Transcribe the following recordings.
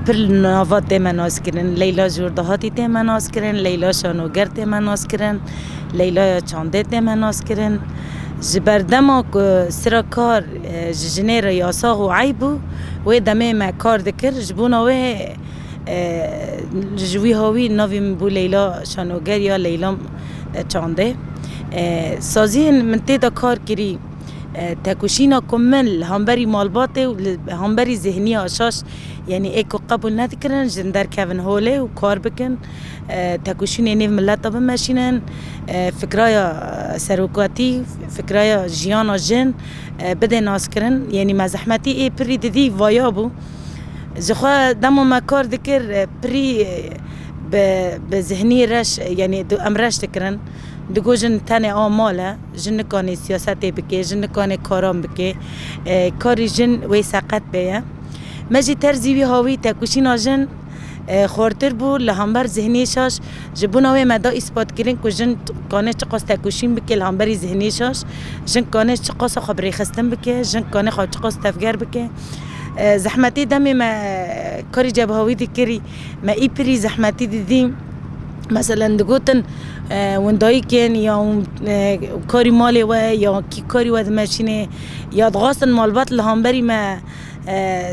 Pir li nava tême naskirin. Leyla Jordahatî tême naskirin, Leyla Şanoger tême naskirin, Leylaya Çandê tême naskirin. Ji ber dema ku sira kar ji jinê re yasax û eyb bû, wê demê me kar dikir. Ji bona wê ji wiha wî navê min bû Leyla Şanoger ya Leyla Çandê. Saziyên min tê de kar kirî. Têkoşîna komên li hemberî malbatê û li hemberî zihniya şaş yanî ê ku qebûl nedikirin jin derkevin holê û kar bikin, têkoşînê nêv mileta bimeşînin, fikraya serokatî, fikraya jiyana jin bidê naskirin yanî me zehmetî ê pirrî didî vaya bû. Jixwe dema me kar dikir pirrî bi zihnî reş yanî em reş dikirin. Digo jin tenê a mal e, jin nikanê siyasetê bikê, jin nikanê karan bikê, karî jin wê seqet bê ye. Me jî terzî wî hawî têkoşîna jin xortir bû li hember zihniyê şaş. Ji bona wê me da îspatkirin ku jin dikane çiqas têkoşîn bike li hemberî zihniyê şaş, jin dikane çiqas xwe birêxistin bike, jin dikane xwe çiqas tevger bike. Zehmetê demê me karî cevahawî dikirî, me îpirî zehmetî didî. Meselen digotin windayîkên ya karî malê we ya kî karî we dimeşînê ya dixwastin malbat li hemberî me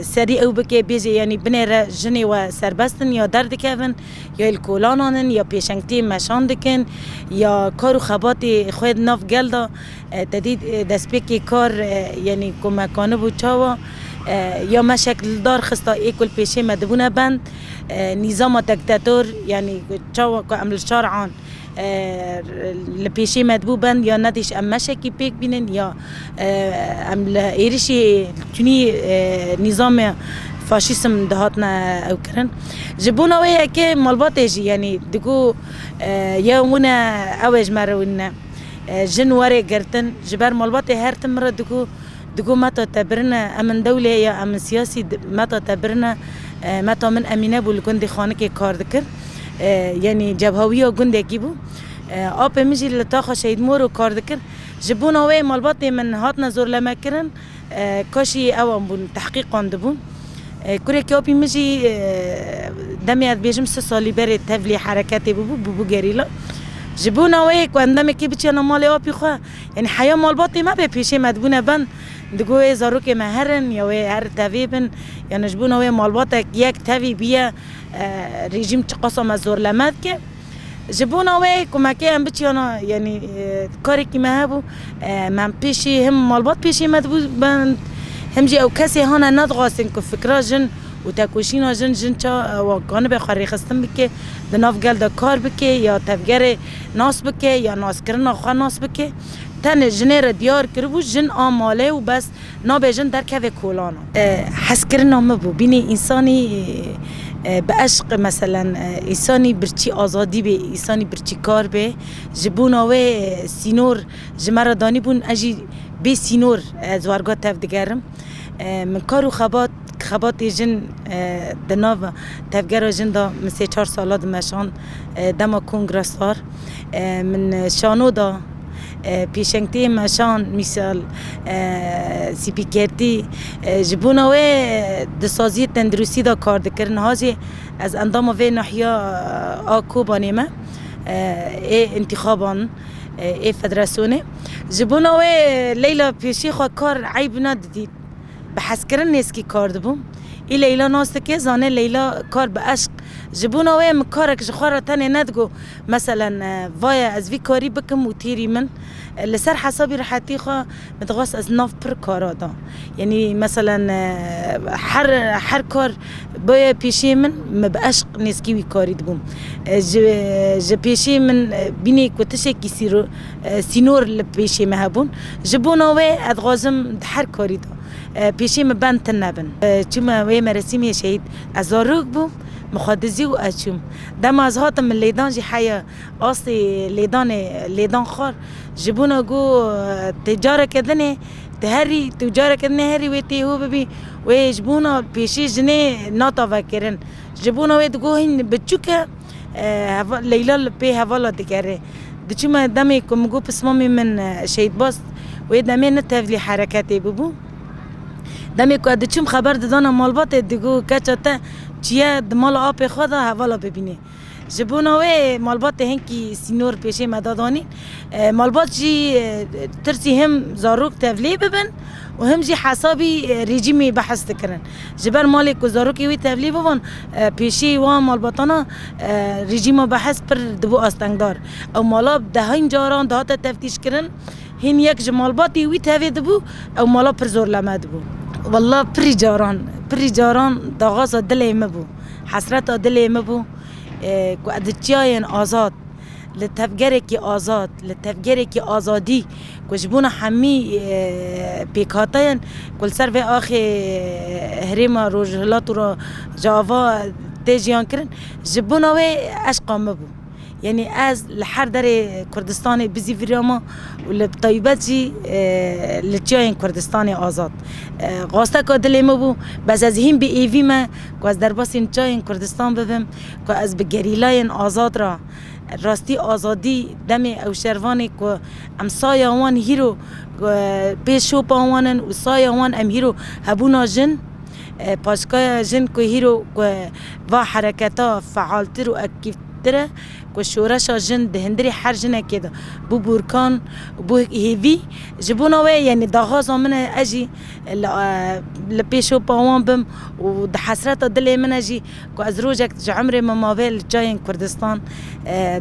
serî ew bike bêje yanî binêre jinê we serbest in ya derdikevin ya li kolanan in ya pêşengtiyê meşan dikin ya kar û xebatê xwe di nav gel de Tedî destpêkê kar yenî ku me kanibû çawa ya me şekildar xista ê ku li pêşê me dibûne bend. Nîzama tektetor yenî çawa ku em li şar an li pêşê me dibû bend ya ne dîş em meşekî pêk bînin ya em li êrişî tunî nîzamê faşîsm dihatine ew kirin. Ji bona wê yekê malbatê jî yenî digot ya wina ew ê ji me re wina. Jin warê girtin. Ji ber malbatê her tim min re digo, digo meta te birine, em in dewlê ya em in siyasî, meta te birine. Meta min Emîne bû li gundê Xanikê kar dikir. Yanî cebhawiya gundekî bû. Apê min jî li taxa Şehîd Moro kar dikir. Ji bona wê malbatê min hatine zorlemekirin. Kaşî ewan bûn tehqîq wan dibûn. Kurekî apî min jî demê ez bêjim sih salî berê tevlî hereketê bûbû, bûbû gerîla. Ji bona wê ku em demekê biçêna malê apî xwe, yanî heya malbatê me bê pêşê me dibûne bend, digo wê zarokê me her in ya wê her tevê bin yanî ji bona wê malbatek yek tevî bûye rejîm çiqasa me zorleme dike. Ji bona wê ku me kê em biçiyana yanî karekî me hebû em hem pêşî him malbat pêşî me dibû ben him jî ew kesê hane nedixwastin ku fikra jin û tekoşîna jin jin ça ewa kanibe xwe rêxistin bike di nav gel de kar bike ya tevgerê nas bike ya naskirina xwe nas bike tenê jinê re diyar kiribû jin a malê û bes Nabe jin derkeve kolana. Hezkirina me bo bînê însanî bi eşq meselen însanî birçî azadî bê, însanî birçî kar bê. Ji bona wê sînor ji me re danîbûn, ez jî bê sînor ez warga tev digerim. Min kar û xebat, xebatê jin di nav tevgera jin de min sê çar sala dimeşand dema kongresar min şano da. Pêşengtiyên meşan mîsal spîkertî ji bona wê di saziyê tenduristî de kar dikir niha jî ez endama vê nahiya a Kobanê me ê întîxaban ê federasyonê ji bona wê leyla pêşî xwe kar eyb nedidît bi hezkirin nêzkî kar dibûm ê leyla nas dike zane leyla kar bi eşq ji bona wê min karek ji xwe re tenê nedigot. Meselen, vaye ez vî karî bikim û tîrî min li ser hesabî rehetî xwe min dixwest ez nav pir kara da. Yanî meselen her her kar baye pêşiyê min min bi eşq nêzkî wî karî dibûm. Ji ji pêşiyê min bînî ku tişekî sîro sînor li pêşiyê min hebûn. Ji bona wê ez dixwazim di her karî da pêşiyê min bend tune bin. Çûme wê meresîmê şehîd ez zarok bûm min xwe dizî û ez çûm. Dema ez hatim min lêdan jî heye astê lêdanê lêdan xwar ji bûna ku tu careke din ê tu herî tu careke din ê herî wê tê hû bibî wê ji bûna pêşî jinê nata vekirin ji bûna wê digo hîn biçûk e heva Leyla li pê hevala digerê diçû me demê ku min got pismamê min şehîdbaz wê demê ne tevlî hereketê bûbû. Demê ku ez diçûm xeber didana malbatê digo keça te çiye di mala apê xwe de hevala bibîne. Ji bona wê malbatê hinkî sînor pêşê me da danîn. Malbat jî tirsî him zarok tevlê bibin û him jî hesabî rejîmê behs dikirin. Ji ber malê ku zarokê wê tevlê biban pêşê wan malbatana rejîma behs pir dibû astengdar. Ew mala bi dehên caran dihate teftîşkirin. Hîn yek ji malbatê wî tevê dibû, ew mala pir zor leme dibû. Walla pirî caran, pirî caran daxwaza dilê min bû, hesreta dilê min bû ku ez di çiyayên azad, li tevgerekî azad, li tevgerekî azadî ku ji bona hemî pêkhate ye ku li ser vê axê herêma Rojhilat û Rojava tê jiyankirin, ji bona wê eşqa min bû. Yanî ez li her derê Kurdistanê bizî viriya me û li taybet jî li çiyayên Kurdistanê azad. Xwasteka dilê min bû, bes ez hîn bi êvî me ku ez derbasîn çiyayên Kurdistan bibim, ku ez bi gerîlayên azad re rastî azadî demê ew şervanê ku em saya wan hîro pê şopa wan in û saya wan em hîro hebûna jin, Paşka jin ku hîro ku va hereketa fealtir û akîvtir e ku şoreşa jin di hindirê her jinekê de bû bûrkan û bû hêvî. Ji bona wê yenê daxwaza min e ez jî li pêşopa wan bim û di hesreta dilê min e jî Ku ez rojek ji emrê min mabe li çayên Kurdistan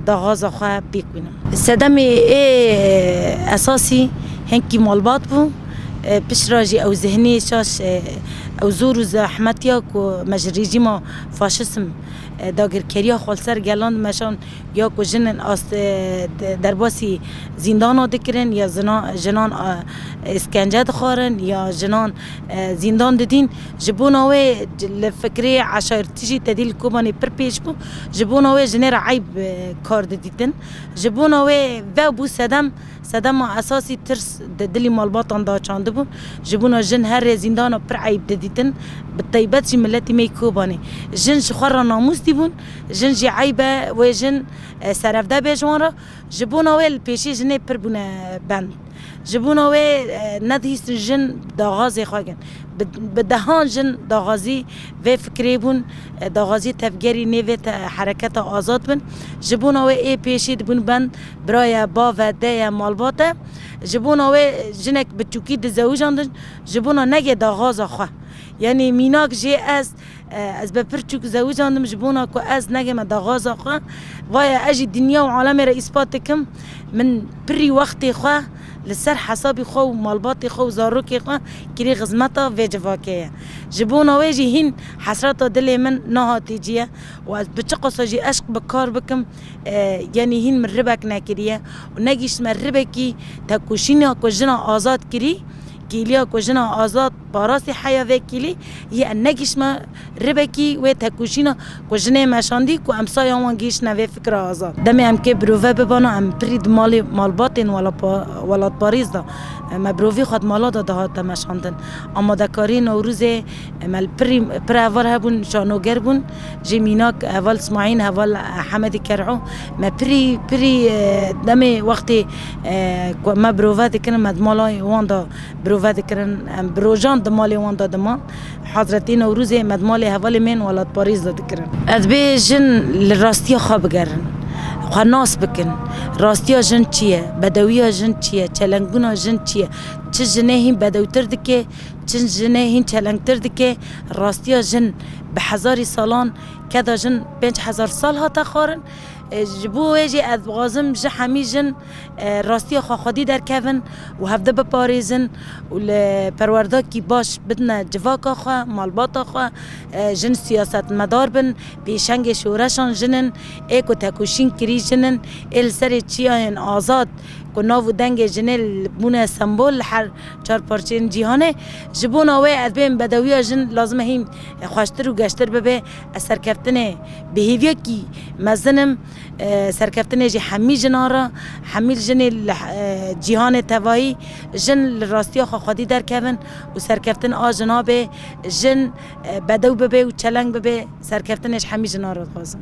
daxwaza xwe pêk bînim. Sedemê ê esasî hingkî malbat bû. Piştra jî ew zihniyê şaş, ew zor û zehmetiya ku me ji rejîma faşism, dagirkeriya xwe li ser gelan dimeşand ya ku jinên ast derbasî zîndana dikirin ya zinan jinan êskence dixwarin ya jinan zîndan didîn. Ji bona wê li fikrê eşaretî jî tedî li Kobanê pir pêş bû. Ji bona wê jinê re eyb kar didîtin. Ji bona wê vew bû sedem. Sedema esasî tirs di dilî malbatan de çandibû. Ji bona jin her rê zîndana pir eyb didîtin. Bi taybet jî miletî me yê Kobanê. Jin ji xwe re namûs dîbûn. Jin jî eyb e wê jin serevde bê ji wan re. Ji bona wê li pêşê jinê pir bûne bend. Ji bona wê nedihîstin jin daxwazê xwe girin. Bi dehan jin daxwazî vê fikirê bûn, daxwazî tevgerî nê vê hereketa azad bin. Ji bona wê ê pêşê dibûn bend, bira ye, bav e, dê ye, malbat e. Ji bona wê jinek bi tûkî dizewicandin ji bona negê daxwaza xwe. Yanî mînak jê ez. Ez be pir çûk zewicandim ji bona ku ez negême daxwaza xwe. Vaye ez jî dinya û alemê re îspat dikim. Min pirî wextê xwe li ser hesabî xwe û malbatê xwe û zarokê xwe kirî xizmeta vê civakê ye. Ji bona wê jî hîn hesreta dilê min nahatî ciye û ez bi çi qasa jî eşq bi kar bikim yenî hîn min ribek nekiriye û negihîştime ribekî tekoşîna ku jina azad kirî, kêliya ku jina azad. Parasî heya vê kîlî yê em negihiştme ribekî wê têkoşîna ku jinê meşandî ku em sayan wan gihiştine vê fikra azad. Demê em kê birove bibana em pirî di malê malbatên welatparêz de me birovî xwe di mala de dihate meşandin. Amadekariyê Newrûzê me li pirî pir heval hebûn şanoger bûn jê mînak heval Smaîn heval Hemedî Ker'û me pirî pirî demê wextê ku me birove dikin me di mala wan de Birove dikirin. Em bi rojan di malê wan de diman. Hazretî Newrûzê me di malê hevalê me yên welatparêz de dikirin. Ez bê jin li rastiya xwe bigerin, xwe nas bikin. Rastiya jin çi ye? Bedewiya jin çi ye? Çelengbûna jin çi ye? Çi jinê hîn bedewtir dike, çi jinê hîn çelengtir dike? Rastiya jin bi hezarî salan keda jin pênc hezar sal hate xwarin. Ji bo wê jî ez dixwazim ji hemî jin. Rastiya xwe xwedî derkevin û hevdî biparêzin û li perwerdakî baş bidine civaka xwe, malbata xwe, jin siyasetmedar bin, pêşengê şoreşan jin in, ê ku tekoşîn kirî jin in, ê li serê çiyayên azad ku nav û dengê jinê li bûne sembol li her çar parçeyên cîhanê, ji bona wê ez bêm bedewiya jin lazim e hîn xweştir û geştir bibe, ez serkeftinê bi hêviyekî mezin im. Serkeftinê jî hemî jinan re. Hemî jinê li cîhanê tevayî jin li rastiya xwe xwedî derkevin û serkeftin a jinan bê. Jin bedew bibe û çeleng bibe. Serkeftinê ji hemî jinan re dixwazin.